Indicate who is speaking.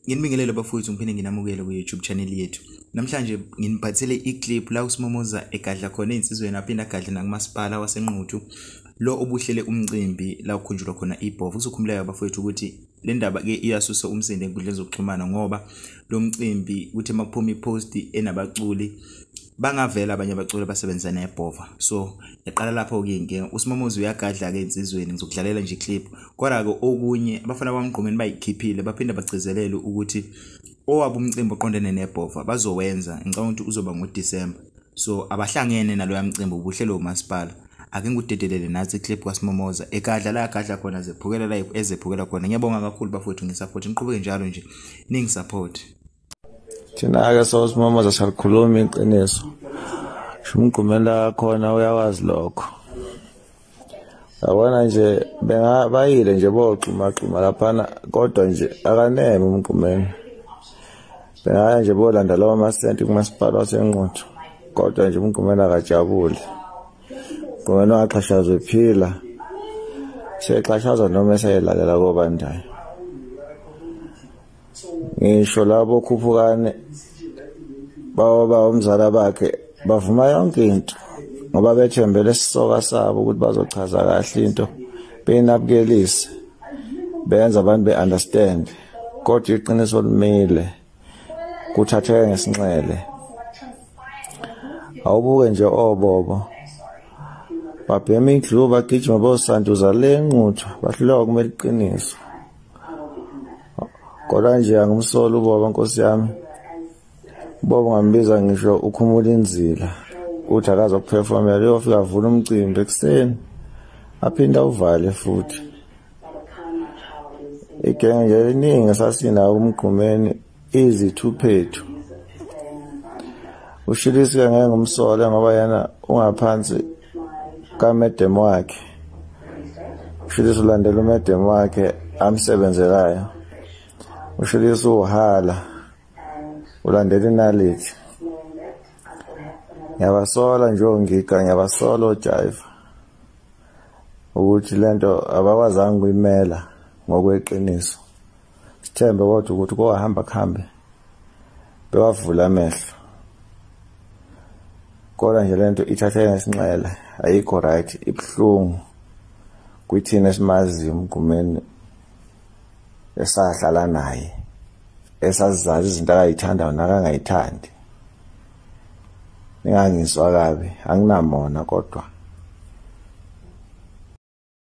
Speaker 1: Nginibingelele bafowethu ngiphinde nginamukele ku-YouTube channel yethu. Namhlanje nginiphathele i-clip la uSimomoza egadla khona ezinsizweni aphinde agadle nakumasipala waseNquthu lo obuhlele umcimbi la ukhunjulwa khona ibhovu. Kuzokhumuleka bafowethu ukuthi le ndaba ke iyasusa umsindo enkundleni zokuxhumana ngoba lo mcimbi kuthi makuphuma i-post enabaculi bangavela abanye abaculi basebenza nebhova so yaqala lapho ke inkinga usimamozi uyagadla ke insizweni ngizokudlalela nje clip kodwa ke okunye abafana bamgqumeni bayikhiphile baphinde bagcizelele ukuthi owabo umcimbi oqondene nebhova bazowenza ngicabanga ukuthi uzoba ngoDecember so abahlangene naloya mcimbi ubuhlelo umasipala ake ngikudedelele nathi iclip kwasimomoza ekadla la gadla khona zephukela la ezephukela khona ngiyabonga kakhulu bafowethu ngisaphothi niqhubeke njalo nje ningi support
Speaker 2: thina-ke sosimama zasalikhulumi iqiniso shumgqumela khona uyawazi lokho yabona nje bayile nje boxhumaxhuma laphana kodwa nje akaneme umgqumeni bengaya nje bolanda lawo masenti kumasipala wasenquthu kodwa nje umgqumeni akajabule mgqumeni waxhashazwe phila sexhashazwa noma esayelalela kobandayo ngisho labo khuphukane bawa ba umzala bakhe bavuma yonke into ngoba bethembele isisoka sabo ukuthi bazochaza kahle into benabukelise benza abantu be-understand kodwa iqiniso limile kuthatheke ngesinxele awubuke nje obobo oh, babhema indlu bagijima bosanduza le nquthu bahluleka kumele iqiniso kodwa nje angimsoli ubaba nkosi yami ubaba ungambiza ngisho ukhumula inzila uthi akazokuphefomela uyofika avula umcimbi ekuseni aphinde awuvale futhi igenge nje liningi esasinawo umgqumeni izithuphethu ushilisi ke ngeke ngumsole ngoba yena ungaphansi kamedem wakhe ushilisi ulandela umedem wakhe amsebenzelayo ushilisi uhala ulandela inalithi ngiyabasola nje ongiga ngiyabasola ojayiva ukuthi lento abakwazanga kuyimela ngokweqiniso sithembe kodwa ukuthi kowahamba kuhambe bewavula amehlo kodwa nje lento ithathe ngesinxele ayikho right ibuhlungu kwithina esimaziyo umgumeni esahlala naye esazizazi izinto akayithandayo nakangayithandi ningangizwa kabi anginamona kodwa